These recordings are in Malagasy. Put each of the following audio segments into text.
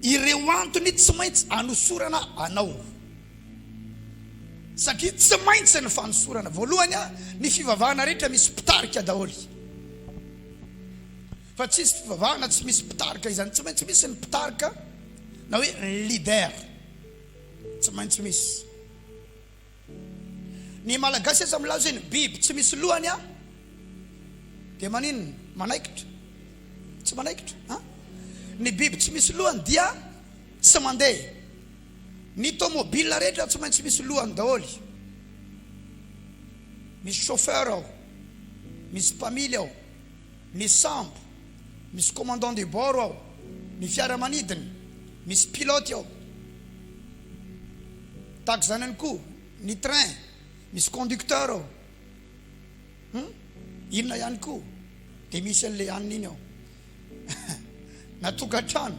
Ireo antony tsy maintsy anosorana anao, satria tsy maintsy ny fanosorana. Voalohany, ny fivavahana rehetra misy mpitarika daholo, fa tsy hisy fivavahana tsy misy mpitarika. Izany tsy maintsy misy ny mpitarika na hoe leader, tsy maintsy misy. Ny malagasy aza milaza hoe ny biby tsy misy lohany an! Dia maninona? Manaikitra? Tsy manaikitra an! Ny biby tsy misy lohany dia tsy mandeha. Ny tomobile rehetra tsy maintsy misy lohany daholo. Misy chauffeur ao, misy mpamily ao. Misy sambo, misy commandant de bord ao, ny fiaramanidina, misy pilote ao. Tahaka izany ihany koa ny train, misy conducteur ao. Hum? Inona ihany koa? Dia misy an'ilay anona iny ao. Na tokantrano,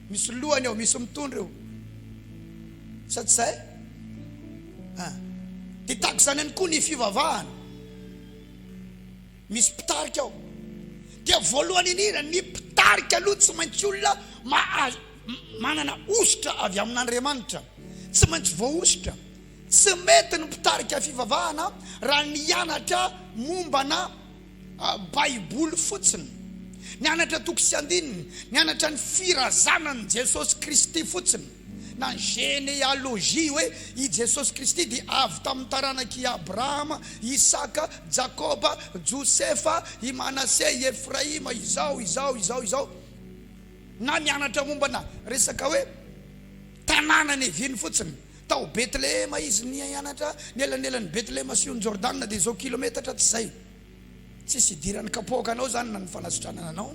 misy lohany ao, misy mitondra eo. Sa tsy izay? Ah. Dia tahaka izany ihany koa ny fivavahana. Misy mpitarika ao dia voalohany indrindra ny mpitarika aloha tsy maintsy olona mahazo manana hosotra avy amin'Andriamanitra tsy maintsy voahosotra tsy mety ny mpitarika fivavahana raha nianatra mombana baiboly fotsiny nianatra toko sy andininy nianatra ny firazanan'i Jesosy Kristy fotsiny Na ny genealogie hoe i Jesosy Kristy dia avy tamin'ny taranak'i Abrahama, Isaka, Jakoba, Josefa, i Manase, i Efraima, izao, izao, izao, izao. Na mianatra mombana resaka hoe tanàna neviny fotsiny, tao Betlehema izy nianatra, ny elanelan'i Betlehema sy ony Jordana dia izao kilometatra tsy izay. Tsisy idiran'ny kapoaka anao zany na ny fanasitranana anao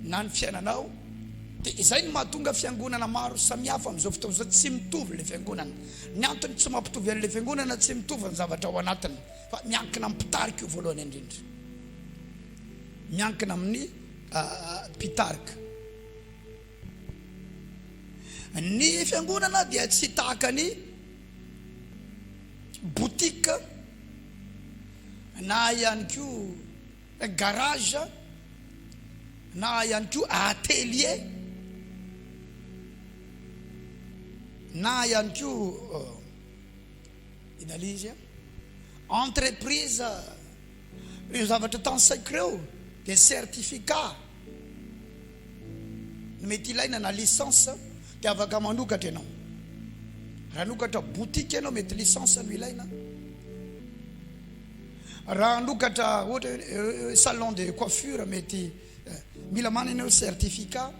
na ny fiainanao de izay no mahatonga fiangonana maro samihafa amin'izao fotoana izao tsy mitovy le fiangonana ny antony tsy mampitovy an'le fiangonana tsy mitovy ny zavatra ao anatiny fa miankina amin'ny mpitarika io voalohany indrindra miankina amin'ny ah, mpitarika Ny fiangonana dia tsy tahaka ny boutique na ihany koa garage na ihany koa atelier na ihany koa inona ilay izy an, entreprise Ireo zavatra tansaiko ireo dia certificat no mety ilaina na licence dia afaka manokatra ianao. Raha hanokatra boutique ianao mety licence no ilaina. Raha hanokatra ohatra hoe salon de coiffure mety mila manana ianao certificat.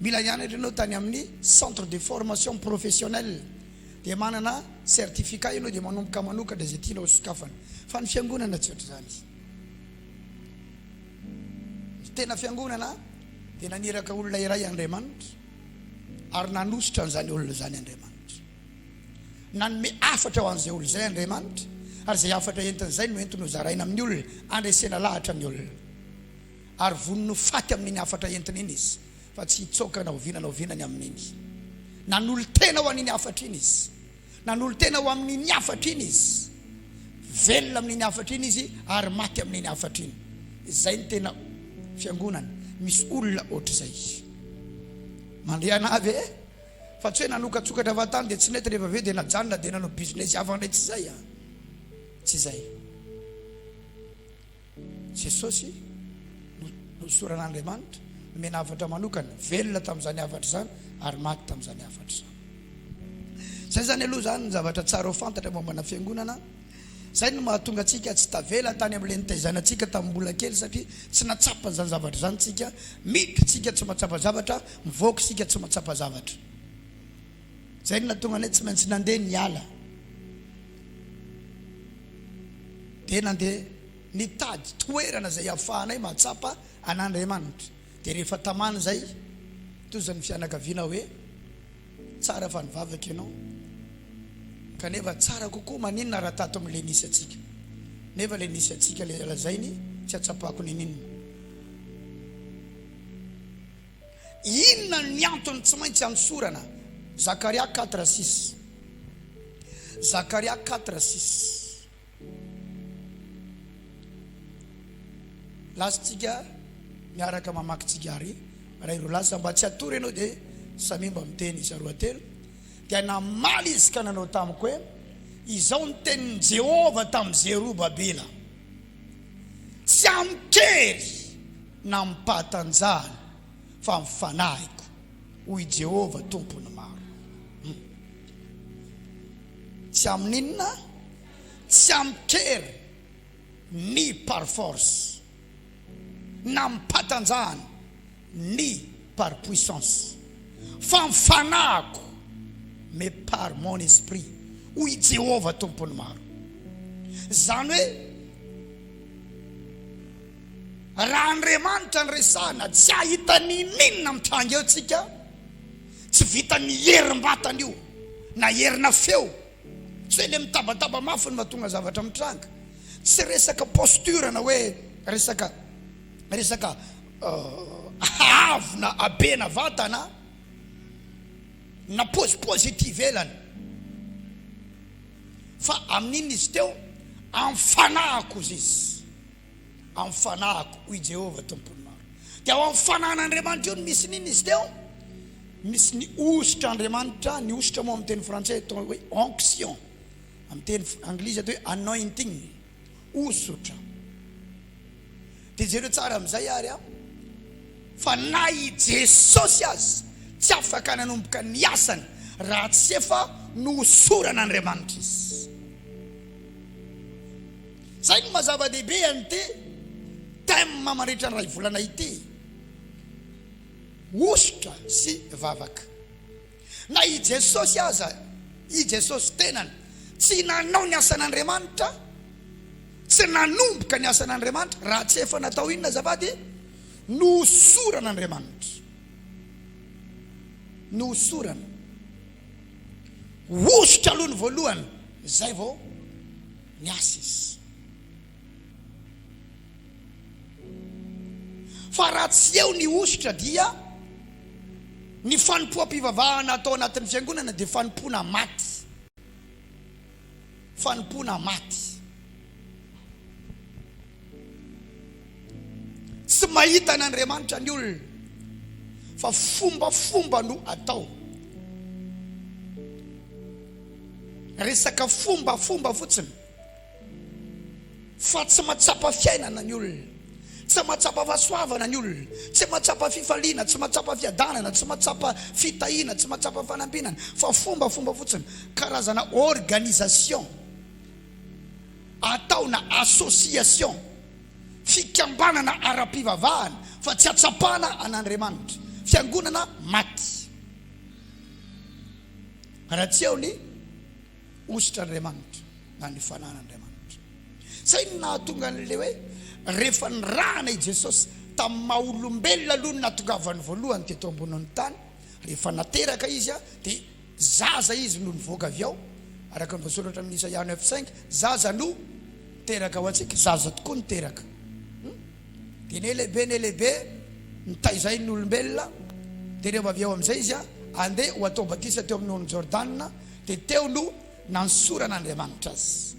Mila hianatra ianao tany amin'ny centre de formation professionnelle. dia manana certificat ianao dia manomboka manokatra izay tianao sokafana fa ny fiangonana tsy ohatr'izany ny tena fiangonana dia naniraka olona iray Andriamanitra ary nanositra an'izany olona izany Andriamanitra nanome afatra ho an'izay olona izay Andriamanitra ary izay afatra entin'izay no entiny hozaraina amin'ny olona andresena lahatra amin'ny olona ary vonony ho faty amin'iny afatra entina iny izy fa tsy hitsaoka na oviana na oviana ny amin'iny. Nanolo-tena ho an'iny hafatra iny izy. Nanolo-tena ho amin'iny hafatra iny izy. Velona amin'iny hafatra iny izy ary maty amin'iny hafatra iny. Izay ny tena fiangonana. Misy olona ohatr'izay. Mandehana avy e. Fa tsy hoe nanokatsokatra avy tany dia tsy nety rehefa avy eo dia najanona dia nanao business hafa ndray tsy izay a. Tsy izay. Jesosy, Nohosoran'Andriamanitra, nomena hafatra manokana, velona tamin'izany hafatra izany ary maty tamin'izany hafatra izany. Izay izany aloha izany ny zavatra tsara ho fantatra mombana Fiangonana. Izay no mahatonga antsika tsy tavela tany amin'ilay nitaizanantsika tamin'ny mbola kely satria tsy nahatsapa an'izany zavatra izany isika. Miditra isika tsy mahatsapa zavatra, mivoaka isika tsy mahatsapa zavatra. Izay no nahatonga anay tsy maintsy nandeha niala. Dia nandeha nitady toerana izay ahafahanay mahatsapa an'Andriamanitra. Dia rehefa tamana izay, tohizan'ny fianakaviana hoe, Tsara fa nivavaka ianao. Kanefa tsara kokoa maninona raha tato amin'ilay nisy antsika? Nefa ilay nisy antsika ilay lazainy, tsy ahatsapako nininona. Inona ny antony tsy maintsy anosorana? Zakaria quatre six, Zakaria quatre six. Lasantsika miaraka mamaky tsigare iray roa lasa mba tsy hatory ianao dia samia mba miteny isa roa telo, Dia namaly izy ka nanao tamiko hoe, Izao no tenin'i Jehovah tamin'i Zerobabela, Tsy amin-kery na amim-pahatanjahana fa amin'ny fanahiko, hoy i Jehovah, Tompon'ny maro. Humm. Tsy amin'inona? Tsy amin-kery ni par force na amim-pahatanjahana. Ni par puissance, fa ny fanahiko, mais par mon esprit, hoy i Jehovah Tompon'ny maro. Izany hoe, raha Andriamanitra no resahina, tsy hahita n'inon'inona mitranga eo tsika tsy vitan'ny herim-batana io, na herina feo, tsy hoe le mitabataba mafy no mahatonga zavatra mitranga, tsy resaka posture na hoe resaka resaka Hahavona habena vatana na pozipozy ety ivelany. Fa amin'inona izy teo? Amin'ny fanahiko, hoy izy. Amin'ny fanahiko, hoy Jehovah Tompon'ny maro. Dia ao amin'ny fanahin'Andriamanitra io no misy ny inona izy teo? Misy ny hosotr'Andriamanitra, ny hosotra moa amin'ny teny frantsay atao hoe onction, amin'ny teny anglisy atao hoe anointing. Hosotra. Dia jereo tsara amin'izay ary a! Fa na i Jesosy aza tsy afaka nanomboka ny asany raha tsy efa nohosoran'Andriamanitra izy. Izay no maha zava-dehibe an'ity thème mandritra ny iray volana ity, hosotra sy vavaka. Na i Jesosy aza, i Jesosy tenany, tsy nanao ny asan'Andriamanitra, tsy nanomboka ny asan'Andriamanitra raha tsy efa natao inona azafady? Nohosoran'Andriamanitra. Nohosorana. Hosotra aloha ny voalohany, izay vao niasa izy. Fa raha tsy eo ny hosotra dia ny fanompoam-pivavahana atao anatin'ny fiangonana dia fanompoana maty. Fanompoana maty. Tsy mahita an'Andriamanitra ny olona fa fombafomba no atao. Resaka fombafomba fotsiny. Fa tsy mahatsapa fiainana ny olona, tsy mahatsapa fahasoavana ny olona, tsy mahatsapa fifaliana, tsy mahatsapa fiadanana, tsy mahatsapa fitahiana, tsy mahatsapa fanambinana, fa fombafomba fotsiny, karazana organisation atao na association, fikambanana ara-pivavahana, fa tsy ahatsapana an'Andriamanitra, fiangonana maty. Raha tsy eo ny. Hosotra Andriamanitra na ny fanan'Andriamanitra. Izay no nahatonga an'ilay hoe rehefa nirahana i Jesosy tamin'ny maha olombelona aloha ny nahatongavany voalohany teto ambonin'ny tany, rehefa nateraka izy dia zaza izy no nivoaka avy ao, araka ny voasoratra amin'ny Isaia neuf cinq, zaza no teraka ho antsika, zaza tokoa no teraka. Hmm? Dia nelehibe, nelehibe, nitaizay ny olombelona, dia rehefa avy ao amin'izay izy andeha ho atao batisa teo amin'ny orony Jordana, Dia teo no nanosoran'Andriamanitra azy.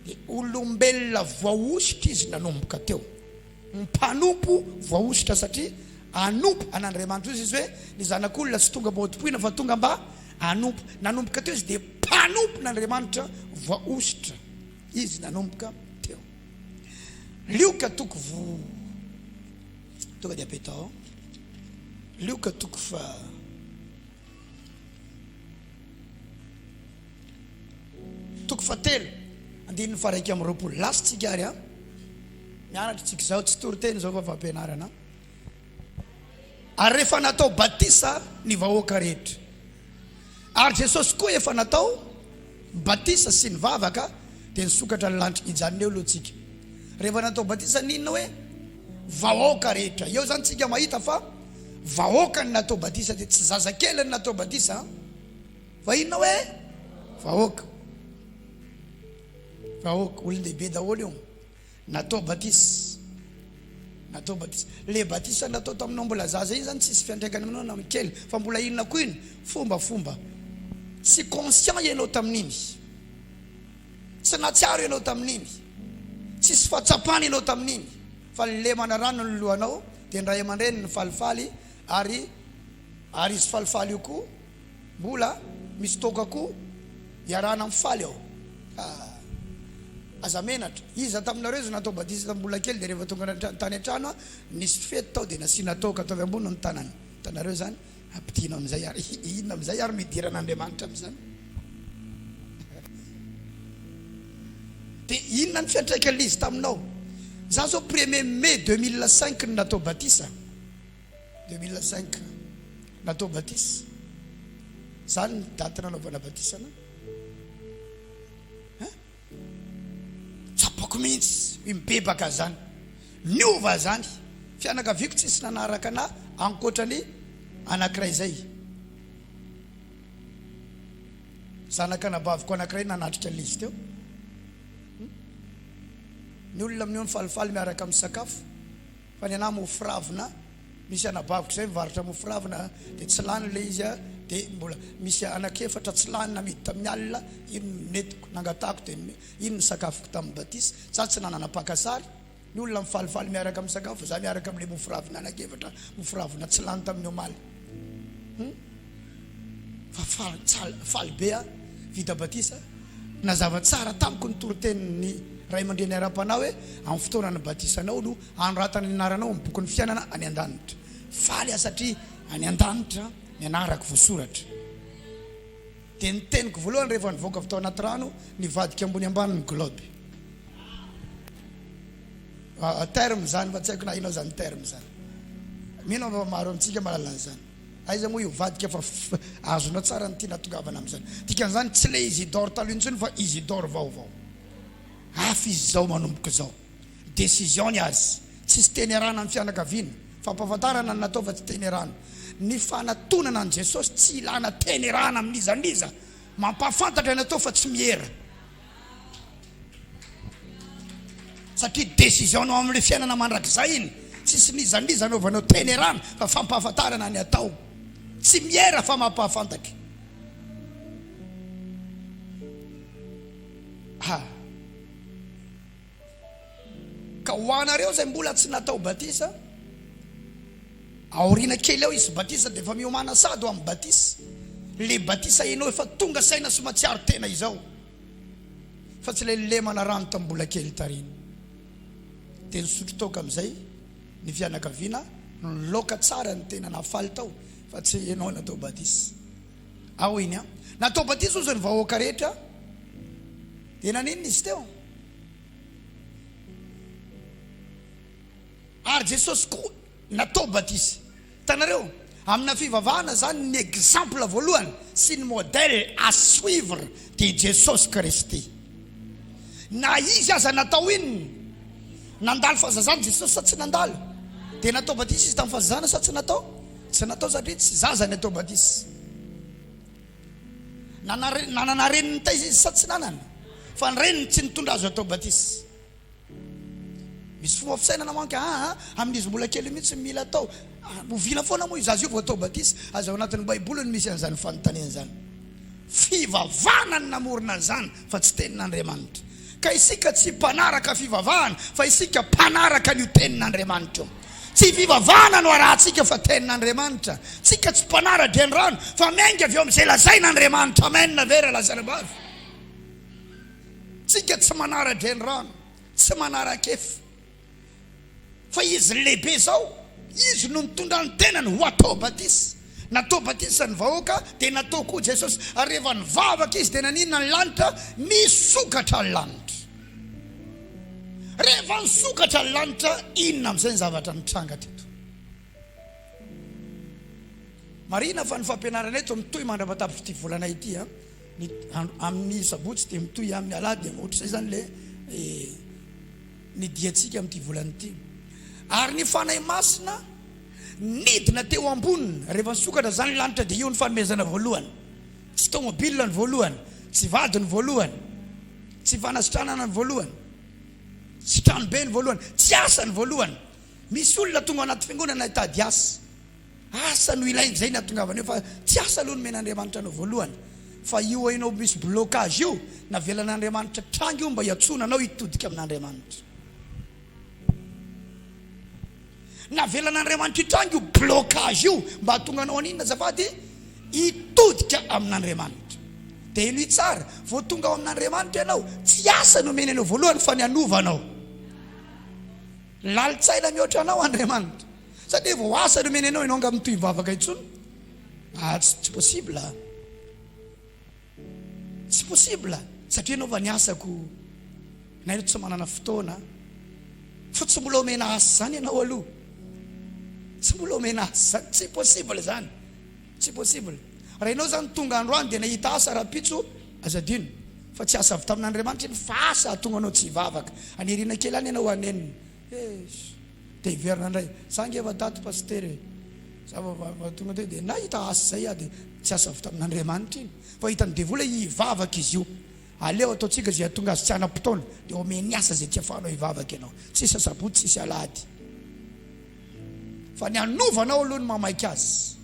Dia olombelona voahosotra izy nanomboka teo. Mpanompo voahosotra satria hanompo an'Andriamanitra. Hoy Jesoa hoe, Ny Zanak'olona tsy tonga mba hotompoina fa tonga mba hanompo. Nanomboka teo izy dia mpanompon'Andriamanitra voahosotra izy nanomboka teo. Lioka toko vo tonga dia be tao. Lioka toko fa Toko fahatelo, andininy faharaika amby roapolo. Last tsika ary a. Mianatra tsika izao, tsy toriteny izao fa fampianarana. Ary rehefa natao batisa ny vahoaka rehetra. Ary Jesosy koa efa natao batisa sy nivavaka dia nisokatra ny lanitry ny janona eo aloha tsika rehefa natao batisa ninona hoe vahoaka rehetra eo zany tsika mahita fa vahoaka ny natao batisa dia tsy zaza kely ny natao batisa fa inona hoe vahoaka vahoaka olon-dehibe daholo eo Natao batisa, natao batisa. Le batisa natao taminao mbola zaza iny zany tsisy fiantraikany aminao na am kely fa mbola inona koa iny fomba fomba. Tsy conscient ianao tamin'iny. Tsy natsiaro ianao tamin'iny. Tsisy fahatsapana ianao tamin'iny fa lemana rano ny lohanao dia ny ray aman-dreniny falifaly ary ary izy falifaly io koa. Mbola misy toaka koa iarahana mifaly ao ah. Aza menatra, iza taminareo izay natao batisa tamin'ny mbola kely dia rehefa tonga natrany tany an-trano ah nisy fety tao dia nasiana toaka tao avy ambony ny tanany, hitanareo izany? Ampidino amin'izay ary, inona amin'izay ary no hidiran'Andriamanitra amin'izany? Dia inona ny fiantraikan'ilay izy taminao? Izaho izao premier mai deux mille cinq no natao batisa. Deux mille cinq natao batisa, zany ny date nanaovana batisa anao? Hein? Tsapako mihitsy i mibebaka zany, niova zany, fianakaviako tsisy nanaraka anah ankoatra ny anakiray zay, zanak'anabaviko anakiray nanatrika ny liste eo, ny olona amin'io nifalifaly miaraka misakafo. Fa ny anah mofo ravina misy anabaviko zay mivarotra mofo ravina de tsy lany le izy a de mbola misy anaka efatra tsy lany namidy tamin'ny alina iny nentiko nangatahako de iny ny sakafoko tamin'ny batisa za tsy nanana mpaka sary ny olona mifalifaly miaraka misakafo za miaraka amle mofo ravina anaka efatra mofo ravina tsy lany tamin'ny omaly Fa faly tsara, faly be aho vita batisa. Nazava tsara tamiko ny toritenin'ny ray aman-dreny ara-panahy hoe amin'ny fotoana nibatisanao no hanoratana ny anaranao amin'ny bokin'ny fiainana any an-danitra. Faly aho satria any an-danitra ny anarako voasoratra. Dia ny teniko voalohany rehefa nivoaka avy tao anaty rano, nivadika ambony ambany ny globe. Terme zany fa tsy haiko na inona zany terme zany. Mino aho fa maro amintsika mahalala an'izany. Aiza moa io vadika fa azonao tsara ny tiana atongavana amin'izany. Dikan'izany tsy ilay Isidore taloha intsony fa Isidore vaovao. Hafa izy izao manomboka izao. Décision ny azy. Tsisy teny iarahana amin'ny fianakaviana. Fampahafantarana no natao fa tsy teny iarahana. Ny fanatonana an'i Jesosy tsy ilana teny iarahana amin'iza n'iza. Mampahafantatra ny atao fa tsy miera. satria décision-nao amin'ilay fiainana mandrakizay iny, tsisy mizamiza anaovanao tenerana fa fampahafantarana ny atao, tsy miera fa mampahafantatra. Ha. Ka ho anareo izay mbola tsy natao batisa, aoriana kely ao hisy batisa dia efa miomana sahady ho amin'ny batisa, ilay batisa ianao efa tonga saina sy matsiaro tena izao, fa tsy ilay lemana rano tamin'ny mbola kely tariana. Dia nisotro toaka amin'izay ny fianakaviana, niloka tsara ny tena, nafaly tao, fa tsy ianao natao batisa. Ao iny an! Natao batisa ozy ny vahoaka rehetra, dia naninona izy teo? Ary Jesosy koa natao batisa. Hitanareo? Amina fivavahana izany ny exemple voalohany sy ny modèle à suivre dia Jesosy Kristy. Na Izy aza natao inona? Nandalo fahazazana Jesosy sa tsy nandalo? Dia natao batisa Izy tamin'ny fahazazana sa tsy natao? Tsy natao satria tsy zaza ny atao batisa. Nanana reny nitaiza izy sa tsy nanana? Fa ny reniny tsy nitondra azy hatao batisa. Misy fomba fisainana manko aa ah, ah, amin'izy mbola kely mihitsy ny mila atao. Ah, oviana foana moa io zaza io vao atao batisa? Aiza ao anatin'ny Baiboly no misy an'izany fanontaniana izany? Fivavahana no namorona an'izany fa tsy tenin'Andriamanitra. Ka isika tsy mpanaraka fivavahana fa isika mpanaraka an'io tenin'Andriamanitra io. Tsy fivavahana no arahantsika fa tenin'Andriamanitra. Tsika tsy mpanara-drenirano fa miainga avy eo amin'izay lazain'Andriamanitra. Amen ve ra lazaina bavy? Tsika tsy manara-drenirano, tsy manara-kefa. Fa izy lehibe zao, izy no nitondra ny tenany ho atao batisa. Natao batisa ny vahoaka dia natao koa Jesosy ary rehefa nivavaka izy dia naninona ny lanitra? Nisokatra ny lanitra. Rehefa nisokatra ny lanitra inona amin'izay ny zavatra nitranga teto? Marihina fa ny fampianarana eto mitohy mandrapatapitry'ity volana ity a, ny amin'ny sabotsy dia mitohy amin'ny alahady dia ohatr'izay zany le eh, ny diantsika amin'ity volana ity. Ary ny Fanahy Masina nidina teo amboniny, rehefa nisokatra izany ny lanitra dia io ny fanomezana voalohany. Tsy tômôbila ny voalohany, tsy vady ny voalohany, tsy fanasitranana ny voalohany, tsy tranobe ny voalohany, tsy asa ny voalohany. Misy olona tonga ao anaty fiangonana hitady asa. Asa no ilaina izay no ahatongavana eo fa tsy asa aloha nomena Andriamanitra anao voalohany fa io hainao misy blocage io navelan'Andriamanitra hitranga io mba hiantsoana anao hitodika amin'Andriamanitra navelan'Andriamanitra hitranga io blocage io mba hahatonga anao haninona azafady hitodika amin'Andriamanitra dia henoy tsara vao tonga ao amin'Andriamanitra ianao tsy asa nomena anao voalohany fa ny hanova anao lalitsaina mihoatra anao Andriamanitra Sa dia vao asa no omena anao ianao nga mitohy mivavaka intsony ah tsy tsy possible ah tsy possible satria ianao va ny asako na ianao tsy manana fotoana fa tsy mbola omena asa zany ianao aloha tsy mbola omena asa zany tsy possible zany tsy possible raha ianao zany tonga androany dia nahita asa raha pitso aza dino fa tsy asa avy tamin'Andriamanitra iny fa asa ahatonga anao tsy hivavaka aniriana kely any ianao hanenina Eish! Dia hiverina indray. Za ange efa daty Pasitera e! Za vao tonga teo dia nahita asa izay aho dia tsy asa avy tamin'Andriamanitra iny fa hitan'ny devoly hoe hivavaka izy io. Aleo ataontsika izay hahatonga azy tsy hanam-potoana dia omeny asa izay tsy afahanao hivavaka ianao. Tsisy asabotsy, tsisy alahady fa ny hanovana ao aloha no mamaika azy.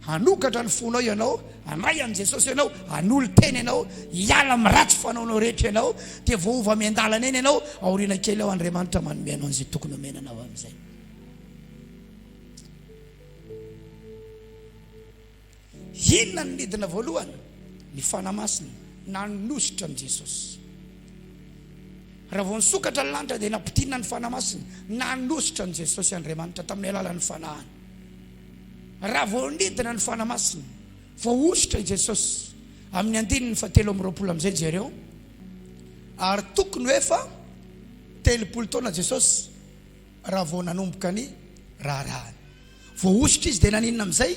Hanokatra ny fonao ianao, handray an'i Jesosy ianao, hanolo-tena ianao, hiala amin'ny ratsy fanaonao rehetra ianao, dia voaova miandalana eny ianao, aoriana kely ao Andriamanitra manome anao an'izay tokony homena anao amin'izay. Inona no nidina voalohany? Ny fanahy masina nanosotra an'i Jesosy. Raha vao nisokatra ny lanitra dia nampitinina ny fanahy masina, nanosotra an'i Jesosy Andriamanitra tamin'ny alalan'ny fanahiny. Raha voanidina ny Fanahy Masina, voahosotra i Jesosy amin'ny andininy fahatelo amby roapolo amin'izay jereo, ary tokony ho efa telopolo taona Jesosy raha vao nanomboka ny raharahany. Voahosotra Izy dia naninona amin'izay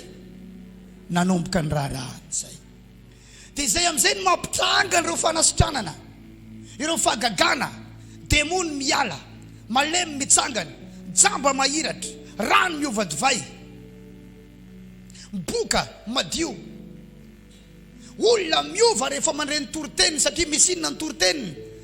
nanomboka ny raharahany izay? Dia izay amin'izay no mampitranga an'ireo fanasitranana, ireo fahagagana, demony miala, malemy mitsangana, jamba mahiratra, rano miova divay, boka madio. Olona miova rehefa mandre ny toriteniny satria misy inona ny toriteniny.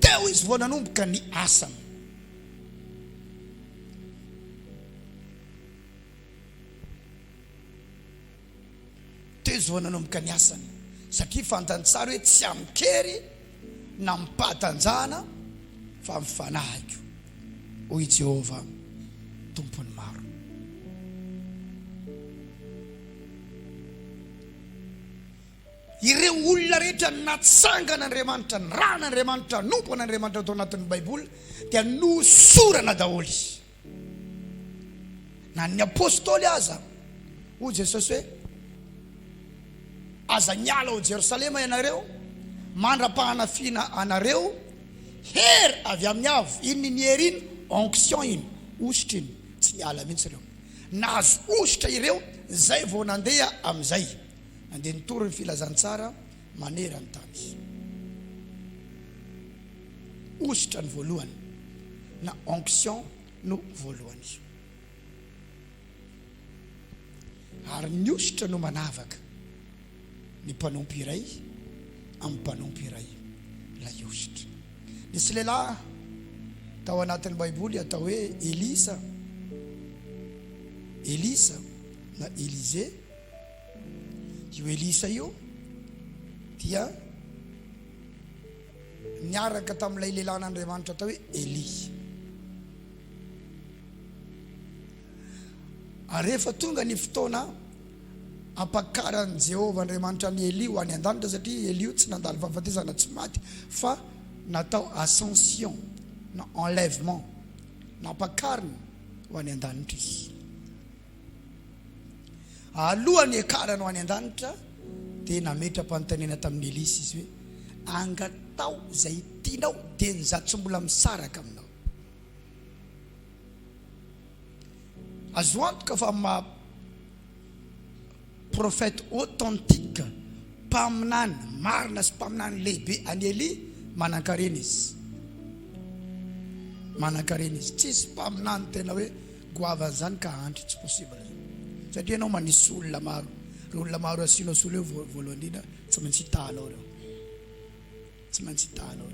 Teo izy vao nanomboka ny asany. Teo izy vao nanomboka ny asany satria fantany tsara hoe tsy amin-kery na amin-pahatanjahana fa amin'ny fanahiko, hoy i Jehovah, Tompon'ny maro. Ireo olona rehetra natsangana Andriamanitra, nirahana Andriamanitra, hanompo an' Andriamanitra tao anatin'ny Baiboly dia nohosorana daholo. Na ny Apostoly aza, hoy Jesosy hoe, Aza miala ao Jerosalema ianareo mandra-pahanafiana anareo hery avy amin'ny Avo. Iny ny hery iny, onction iny, hosotra iny. Tsy niala mihitsy ireo. Nahazo hosotra ireo izay vao nandeha amin'izay. Andeha nitory ny filazantsara maneran-tany izy. Hosotra ny voalohany na onction no voalohany izy. Ary ny hosotra no manavaka ny mpanompo iray amin'ny mpanompo iray ilay hosotra. Nisy lehilahy tao anatin'ny Baiboly atao hoe Elisa, Elisa na Elisée. Io Elisa io dia niaraka tamin'ilay lehilahin'Andriamanitra atao hoe Elia. Ary rehefa tonga ny fotoana ampakaran'i Jehovah Andriamanitra an'i Elia ho any an-danitra satria Elia tsy nandalo fahafatesana tsy maty fa natao ascension na enlèvement nampakarina ho any an-danitra izy. Alohan'ny hiakarany ho any an-danitra dia nametra-panontaniana tamin'i Elisa izy hoe, Angataho izay tianao dia ny za tsy mbola misaraka aminao. Azo antoka fa amin'ny maha Prophète authentique, mpaminany marina sy mpaminany lehibe an'i Elia, manankarena izy. Manankarena izy. Tsisy mpaminany tena hoe goavana izany ka hahantra, tsy possible izany. Satria ianao manisy olona maro, ireo olona maro asianao solo eo voalohan'indrindra tsy maintsy hitahanao ireo. Tsy maintsy hita aloha.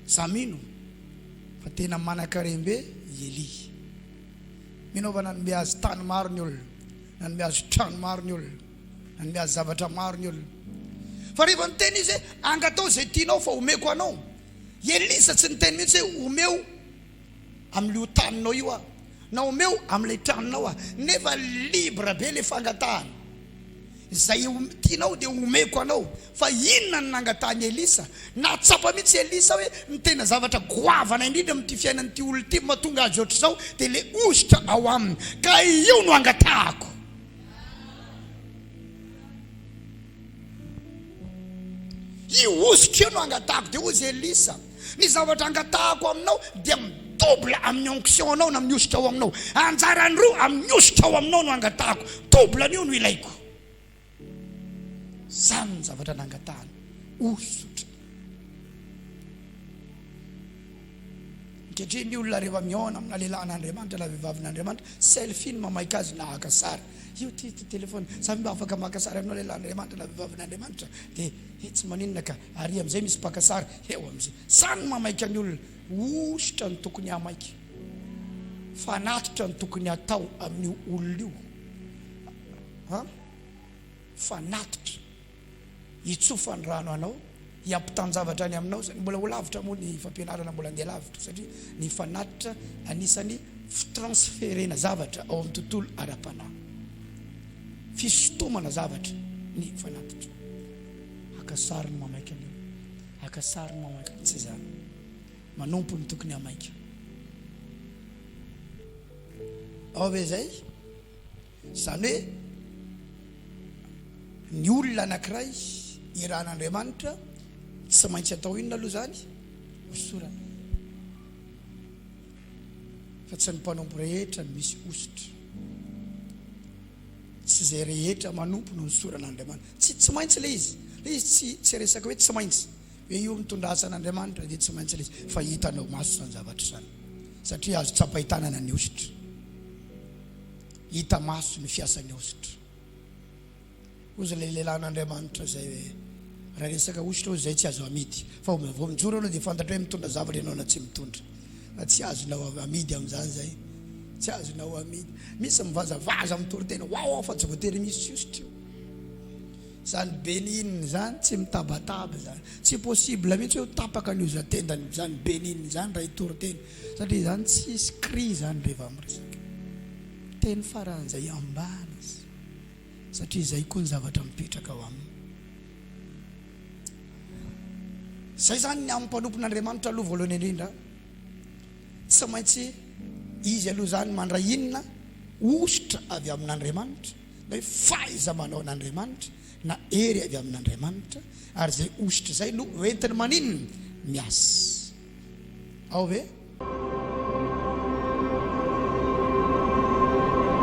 Za mino fa tena manakarem-be i Elia. Mino aho fa nanome azy tany maro ny olona, nanome azy trano maro ny olona, nanome azy zavatra maro ny olona. Fa rehefa niteny izy hoe angatao izay tianao fa omeko anao, i Elisa tsy niteny mihitsy hoe omeo. amin'io taninao io aho na omeo amin'ilay tranonao aho nefa libre be ilay fangatahana izay tianao dia omeko anao fa inona no nangatahan'i Elisa nahatsapa mihitsy Elisa hoe ny tena zavatra goavana indrindra amin'ity fiainan'ity olona ity mahatonga azy ohatr'izao dia ilay hosotra ao aminy ka io no angatahako Io hosotra io no angatahako, dia hoy izy Elisa, ny zavatra angatahako aminao dia mi-double amin'ny onction anao na amin'ny hosotra ao aminao, anjarany roa amin'ny hosotra ao aminao no angatahako, double an'io no ilaiko. Izany ny zavatra nangatahany, hosotra. Ankehitriny ny olona rehefa mihaona amina lehilahin'Andriamanitra na vehivavin'Andriamanitra, selfie no mamaika azy na haka sary. Io ity ity telefaony, za ve mba afaka maka sary aminao lehilahin'Andriamanitra na vehivavin'Andriamanitra? Dia, he tsy maninona ka, ary amin'izay misy mpaka sary eo amin'izay. Izany no mamaika ny olona. Hosotra ny tokony hamaika. Fa hanatitra ny tokony hatao amin'io olona io. An? Fanatitra. hitsofany rano anao, hiampitan-javatra any aminao zany. Mbola ho lavitra moa ny fampianarana, mbola handeha lavitra satria ny fanatitra anisan'ny fitransferena zavatra ao amin'ny tontolo ara-panahy. Fisotomana zavatra ny fanatitra. Haka sary ny mamaika anao, haka sary ny mamaika ny tsy zany. Manompo ny tokony hamaika. Ao ve zay? Izany hoe ny olona anankiray irahan'Andriamanitra tsy maintsy atao inona aloha izany? Hosorana. Fa tsy ny mpanompo rehetra no misy hosotra. Tsy izay rehetra manompo no hosoran'Andriamanitra. Tsy tsy maintsy ilay izy. Ilay izy tsy tsy resaka hoe tsy maintsy. Hoe io mitondra asa an'Andriamanitra dia tsy maintsy ilay izy. Fa hitanao maso izany zavatra izany. Satria azo tsapain-tanana ny hosotra. Hita maso ny fiasan'ny hosotra. Hoy izay lehilahin'Andriamanitra izay hoe, Raha resaka hosotra hoy izay tsy azo amidy. Fa vao mijoro ianao dia fantatra hoe mitondra zavatra ianao na tsy mitondra. Fa tsy azonao amidy amin'izany izay. Tsy azonao amidy. Misy mivazavaza mitory tena, waouh fa tsy voatery misy hosotra io. Izany benin izany tsy mitabataba izany. Tsy possible mihitsy hoe ho tapaka ny hozan-tendany izany benin izany raha hitory tena. Satria izany tsy hisy cri izany rehefa miresaka. Teny faran'izay ambany izy satria izay koa ny zavatra mipetraka ao aminy. Izay izany ny amin'ny mpanompon'Andriamanitra aloha voalohany indrindra. Tsy maintsy izy aloha izany mandray inona? Hosotra avy amin'Andriamanitra na hoe fahaiza-manao an'Andriamanitra na hery avy amin'Andriamanitra ary izay hosotra izay no hoentiny maninona? Miasa. ao ve?